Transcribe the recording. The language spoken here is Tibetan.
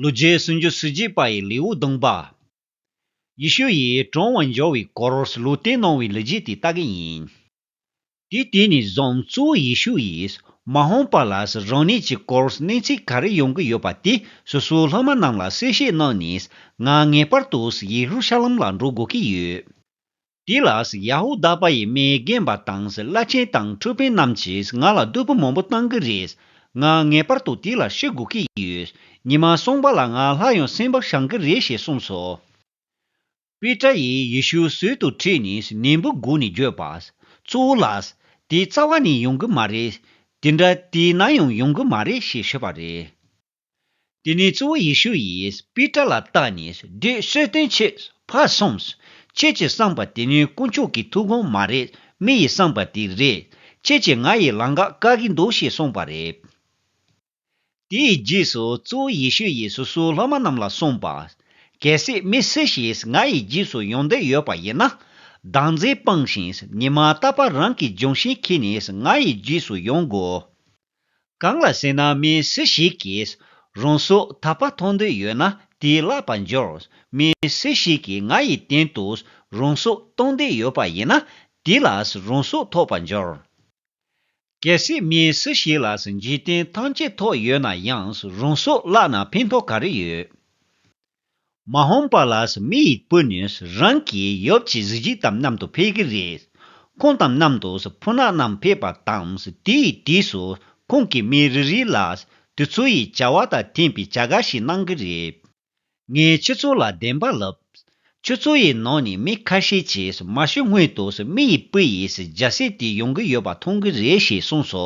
ལུས་རྗེས་སུ་འཇུ་སུ་རྗེས་པ་ཡི་ལེའུ་བདུན་པ། ཡེ་ཤུ་ཡིས་དྲང་བར་འབྱོར་བའི་སྐོར་ལུས་བསྟན་གནང་བའི་ལུས་རྗེས་དེ་ལྟ་གི་ཡིན། དུས་དེ་ནས་བཟུང་གཙོ་བོ་ཡེ་ཤུ་ཡིས་མ་ཧོང་པ་ལ་རང་ཉིད་ཀྱི་སྐོར་གནས་ཚུལ་ག་རེ་ཡོང་གི་ཡོད་པ་དེ་སོ་སོའི་སློབ་མ་རྣམས་ལ་གསལ་བཤད་གནང་ནས་ང་ངེས་པར་དུ་ཡེ་ཧུ་ཤ་ལམ་ལ་འགྲོ་དགོས་ཀྱི་ཡོད། དེ་ལ་ཡ་ཧུ་དཱ་པ་ཡི་མའི་རྒན་པ་དང་བླ་ཆེན་དང་འཕྲོད་བསྟེན་རྣམས་ཀྱིས་ང་ལ་བསྡོད་པོ་མང་པོ་གཏང་གི་རེད། ང་ངེས་པར་དུ་དེ་ལ་ཤི་དགོས་ཀྱི་ཡོད། ཉི་མ་སོང་པ་ལ་ང་ལྷ་ཡང་སེམས་པ་བྱང་གི་རེད་ཞེས་གསུངས་སོ། པེ་ཏྲ་ཡིས་ཡེ་ཤུའི་ཟོལ་དུ་ཁྲིད་ནས་ནན་པོའི་སྒོ་ནས་བརྗོད་པ། གཙོ་བོ་ལགས། དེ་རྩ་བ་ནས་ཡོང་གི་མ་རེད། དེ་འདྲ་དེས་ན་ཡང་ཡོང་གི་མ་རེད་ཞེས་ཞུས་པ་རེད། དེ་ནས་གཙོ་བོ་ཡེ་ཤུ་ཡིས་པེ་ཏྲ་ལ་བལྟ་ནས་འདི་གསོལ་སྟོན་ཆེད་ཕར་སོང། ཁྱེད་ཀྱིས་བསམས་པ་དེ་ནི་དཀོན་མཆོག་གི་ཐུགས་དགོངས་མ་རེད་མི་ཡིས་བསམས་པ་དེ་རེད། ཁྱེད་ཀྱིས་ང་ཡི་ལང་ག་བཀག་གི་འདུག་ཞེས་གསུངས་པ་རེད། དེའི་རྗེས་སུ་གཙོ་བོ་ཡེ་ཤུ་ཡིས་སོ་སོའི་སློབ་མ་རྣམས་ལ་གསུངས་པ། གལ་སྲིད་མི་སུ་ཞིག་ང་ཡི་རྗེས་སུ་ཡོང་འདོད་ཡོད་པ་ཡིན་ན། སྡང་རྫས་སྤངས་ཤིང་ཉི་མ་རྟག་པར་རང་གི་ལྗོན་ཤིང་འཁྱིལ་ནས་ང་ཡི་རྗེས་སུ་ཡོང་དགོས། གང་ལ་སེམས་ནང་མི་སུ་ཞིག་གིས་རང་སྲོག་དག་པ་མཐོང་འདོད་ཡོད་ན་དེས་བརླག་པར་འགྱུར། མི་སུ་ཞིག་གིས་ང་ཡི་སྟེང་དུ་རང་སྲོག་གཏོང་འདོད་ཡོད་པ་ཡིན་ན་དེ་ལ་རང་སྲོག་ཐོགས་པར་འགྱུར། གལ་སྲིད་མི་སུ་ཞིག་ལ་འཇིག་རྟེན་ཐམས་ཅད་ཐོགས་ཡོད་ན་ཡང་རང་སྲོག་བརླག་ན་ཕན་ཐོགས་ག་རེ་ཡོད། མ་ཧོམ་པ་ལགས་མི་ཡི་སྤུན་ནི་རང་གི་ཡོབ་ཀྱི་གཟི་བརྗིད་དམ་མཉམ་དུ་ཕེབས་ཀྱི་རེད། ཁོང་དམ་མཉམ་དུ་ཕུ་ནག་རྣམས་ཕེབས་པ་དང་དེ་ཡི་དུས་སུ་ཁོང་གིས་མི་རེ་རེ་ལ་དུས་ཚོད་ཡི་བྱ་བ་དང་ཐིམ་པའི་བྱ་དགའ་ཞིག་གནང་གི་རེད། ངས་ཁྱོད་ཚོ་ལ་བདེན་པ་ལབ། ཁྱོད་ཚོ་ཡི་ནང་ནས་མི་ཁ་ཤས་ཀྱིས་མ་ཤི་སྔོན་དུ་མི་ཡི་སྤུན་ཡིས་རྒྱ་སྲས་དེ་ཡོང་གི་ཡོད་པ་མཐོང་གི་རེད་ཞེས་གསུངས་སོ།